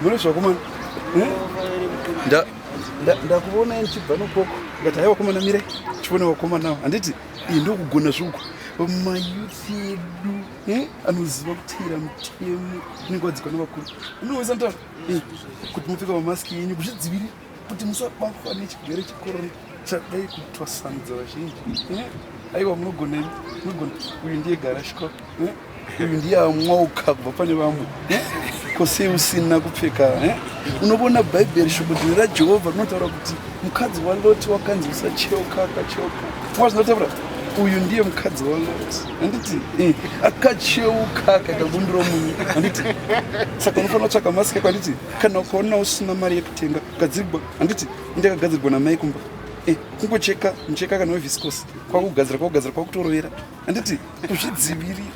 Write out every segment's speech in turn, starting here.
Murezva kumana. Eh? Nda ndakuona ndichibva nokoko. Ngati haiwa kumana mire. Chipona wakoma nawo. Handiti iyi ndokugona zvuku. Mayuthi edu eh? anoziva kuteera mutemo unenge wadzikwa nevakuru. Unoweza ntaura eh, kuti mupfeka mamaski yenyu kuzvidzivirira. kuti musabatwa nechigwere chikorona chadai kutwasanudza vazhinji eh? aiwa munogonei munogona uyu ndiye garashika eh? uyu ndiye amwa ukabva pane vamwe eh? kosei usina kupfeka unovona bhaibheri shoko dzine rajehovha rinotaura kuti mukadzi waloti wakanzi usacheuka akacheuka wazinotaura uyu ndiye mukadzi waloti handiti eh, akacheuka akaita bumbiro munyu handiti saka unofanira kutsvaka masike kwanditi kana ukaona usina mari yekutenga gadzirwa handiti ndakagadzirwa namai kumba eh, kungocheka mucheka kana weviscos kwakugadzira kwakugadzira kwakutorovera handiti kuzvidzivirira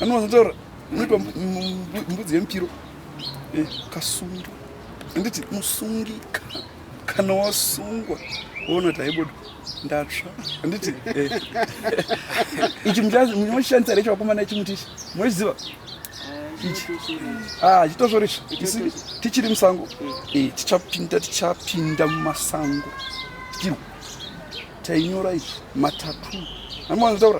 anowanzotaura unoitwa mbudzi yemupiro eh, kasungwa handiti musungika kana wasungwa woona taibuda ndatsva handiti eh. ichi munoshandisa recho vakomana ichi mutichi munochiziva ah, chitozvorisva tichiri musango eh, tichapinda tichapinda mumasango tichirwa tainyora izvi matatu amoanzitaura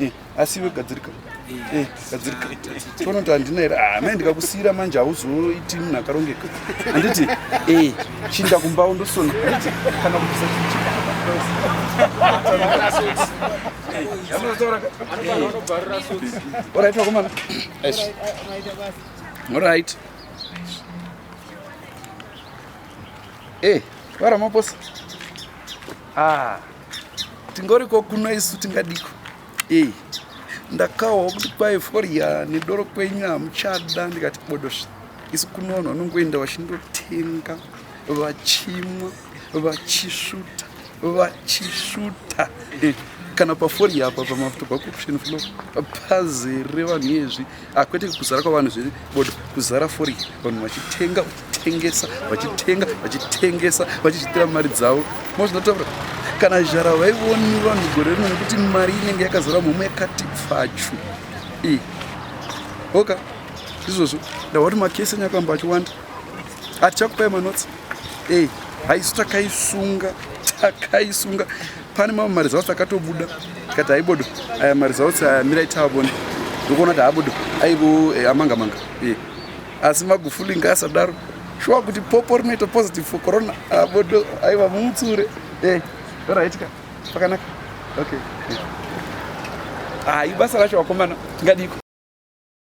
Eh, asi iwe gadzirika eh, eh, gadzirika tiona kuti handina here ah, mai ndikakusiira manje hauzoiti munhu akarongeka handiti chinda kumbawo ndosona handiti kana kubvisa orit vakomana orit e varamaposa ah tingoriko kuno isu tingadiko ei ndakawa kuti kwai forya nedoro kwenyu hamuchada ndikati bodosva isu kuno vanhu vanongoenda vachindotenga vachimwa vachisvuta vachisvuta eh, kana paforya apa pamafuta pacorruption flo pazere vanhu iyezvi Ah, kwete kuzara kwavanhu zviri bodo kuzara fori vanhu vachitenga vachitengesa vachitenga vachitengesa vachizvitira mari dzavo mozvinotaura kana zhara vaivoni vanhu gore rino nekuti mari inenge yakazara mhomwe yakati pfachu i oka izvozvo ndawati makesi enyu akamba achiwanda hatichakupai manotsi ei haisu takaisunga takaisunga pane mamwe maresults akatobuda tikati aibodo aya maresults aya mirai taabone ndokuona kuti haabodo aivo eh, amanga manga eh. asi magufuli ngaasadaro shuwa kuti popo rinoita positive for corona abodo ah, aiva mumutsure eh, ndoraitika pakanaka okay eh. ah, ibasa racho wakomana tingadiko